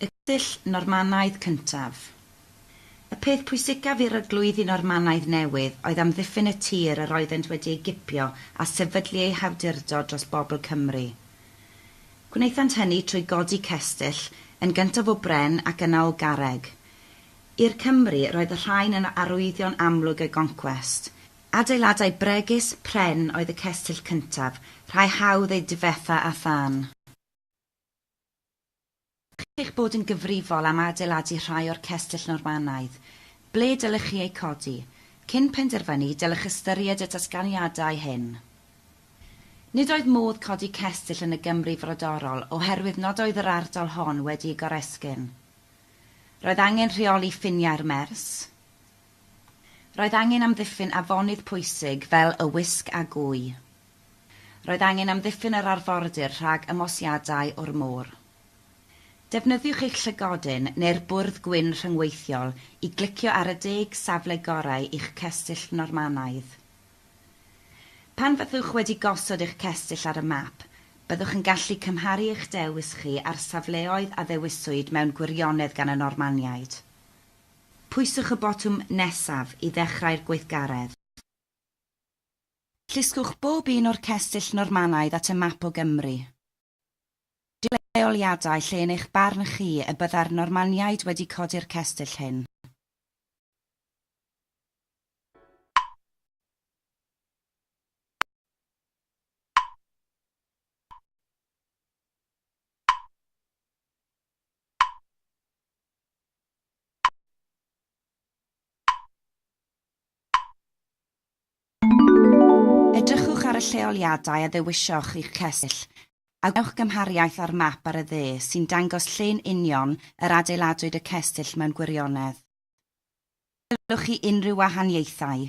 Y dull Normanaidd cyntaf. Y peth pwysicaf i'r Arglwyddi Normanaidd newydd oedd amddiffyn y tir yr oeddent wedi ei gipio a sefydlu eu hawdurdod dros bobl Cymru. Gwnaethant hynny trwy godi cestyll, yn gyntaf o bren ac yna o garreg. I'r Cymry, roedd y rhain yn arwyddion amlwg y goncwest. Adeiladau bregus, pren oedd y cestyll cyntaf, rhai hawdd eu difetha â thân. chi'ch bod yn gyfrifol am adeiladu rhai o'r cestyll Normanaidd, ble dylech chi eu codi? Cyn penderfynu, dylech ystyried y datganiadau hyn. Nid oedd modd codi cestyll yn y Gymru frodorol oherwydd nad oedd yr ardal hon wedi'i goresgyn. Roedd angen rheoli ffiniau'r Mers. Roedd angen amddiffyn afonydd pwysig fel y Wysg a Gwy. Roedd angen amddiffyn yr arfordir rhag ymosiadau o'r môr. Defnyddiwch eich llygodyn neu'r bwrdd gwyn rhyngweithiol i glicio ar y deg safle gorau i'ch cestyll Normanaidd. Pan fyddwch wedi gosod eich cestyll ar y map, byddwch yn gallu cymharu eich dewis chi â'r safleoedd a ddewiswyd mewn gwirionedd gan y Normaniaid. Pwyswch y botwm 'Nesaf' i ddechrau'r gweithgaredd. Llusgwch bob un o'r cestyll Normanaidd at y map o Gymru. Dewch â lleoliadau lle yn eich barn chi y byddai'r Normaniaid wedi codi'r cestyll hyn. Edrychwch ar y lleoliadau a ddewisioch i'ch cestyll, a gwnewch gymhariaeth â'r map ar y dde sy'n dangos lle'n union yr adeiladwyd y cestyll mewn gwirionedd. Gwelwch chi unrhyw wahaniaethau?